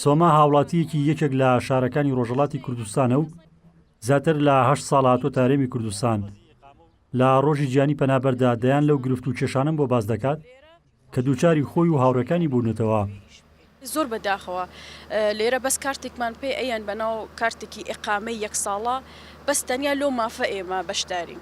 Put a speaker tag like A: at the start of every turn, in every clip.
A: سۆما هاوڵاتییەکی یەکێک لە شارەکانی ڕۆژەڵاتی کوردستانە و زیاتر لە هەشت ساڵ هاتووەتە هەرێمی کوردستان لە ڕۆژی جیانی پەنابەردا دەیان لەو گرفت و کێشانەم بۆ باس دەکات کە دووچاری خۆی و هاوڕەکانی بوونەتەوە زۆر
B: بەداخەوە لێرە بەس کارتێکمان پێ ئەیان بەناو کارتێکی ئقامەی یەک ساڵە بەس تەنیا لۆ مافە ئێمە بەشدارین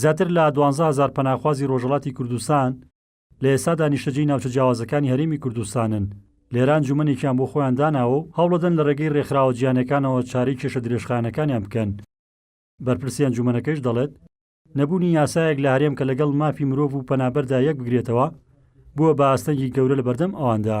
B: زیاتر لە
A: دوانزە هەزار پەناخوازی رۆژهەڵاتی کوردستان لە ئێستادا نیشتەجێی ناوچە جیاوازەکانی هەرێمی کوردستانن، لێرە ئەنجومەنێکیان بۆ خۆیان داناوە و هەوڵەدەن لە رێگەی رێکخراوە جیانەکانەوە چارەی کێشە درێژخایەنەکانیان بکەن. بەرپرسی ئەنجومەنەکەیش دەڵێت، نەبوونی یاسایەک لە هەرێم کە لەگەڵ مافی مرۆڤ و پەنابەردا یەکبگرێتەوە، بووە بە ئاستەنگی گەورە لەبەردەم ئەواندا.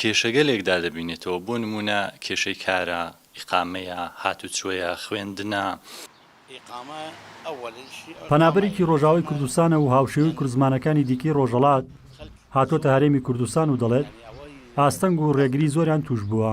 C: کێشەگەلێک دادەبینێتەوە، بۆ نموونە کێشەی کارە، ئیقامەیە، هاتوچۆیە، خوێندنە.
A: پەنابەرێکی ڕۆژاوای کوردستانە و هاوشێوەی کوردزمانەکانی دیکەی ڕۆژهەڵات، هاتووەتە هەرێمی کوردستان و دەڵێت، ئاستەنگ و ڕێگری زۆریان تووشبووە.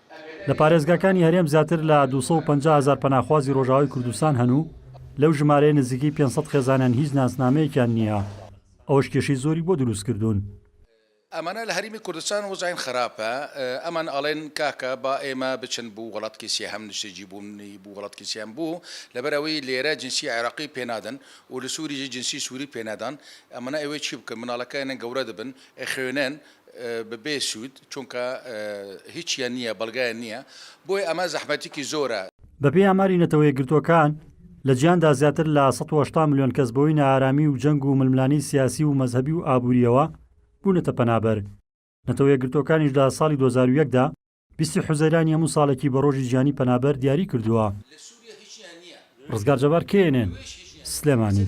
A: لە پارێزگاکانی هەرێم زیاتر لە دوو سەد و پەنجا هەزار پەناخوازی رۆژئاوای کوردستان هەن و لەو ژمارەیە نزیکەی پێنج سەد خێزانیان هیچ ناسنامەیەکیان نییە، ئەوەش کێشەی زۆری بۆ دروستکردوون. ئەمانە
D: لە هەرێمی کوردستان وەزعیان خراپە، ئەمان ئەڵێن کاکە با ئێمە بچن بو وڵاتکی سێهەم، نشتەجی بون بو وڵاتکی سێهەم بو لەبەر ئەوەی لێرە جنسی عێراقی پێ نادەن و لە سوریژی جنسی سوری پێ نادان، ئەمانە ئەوێ چی بکەن مناڵەکانیان گەورە دەبن ئەخوێنن، بەبێ سود چونکە هیچیان نیە بەڵگەیان نیە بۆی ئەمە زەحمەتیکی زۆرە. بەپێی ئاماری
A: نەتەوەیەکگرتووەکان، لە جیهاندا زیاتر لە سەد و هەشتا ملیۆن کەس بەهۆی نائارامی و جەنگ و ململانێی سیاسی و مەزهەبی و ئابوورییەوە بوونەتە پەنابەر. نەتەوە یەکگرتووەکانیش لە ساڵی دوو هەزار و یەک دا، بیستی حوزەیرانی هەموو ساڵێکی بە ڕۆژی جیهانی پەنابەر دیاری کردووە. ڕزگار جەبار، knn، سلێمانی.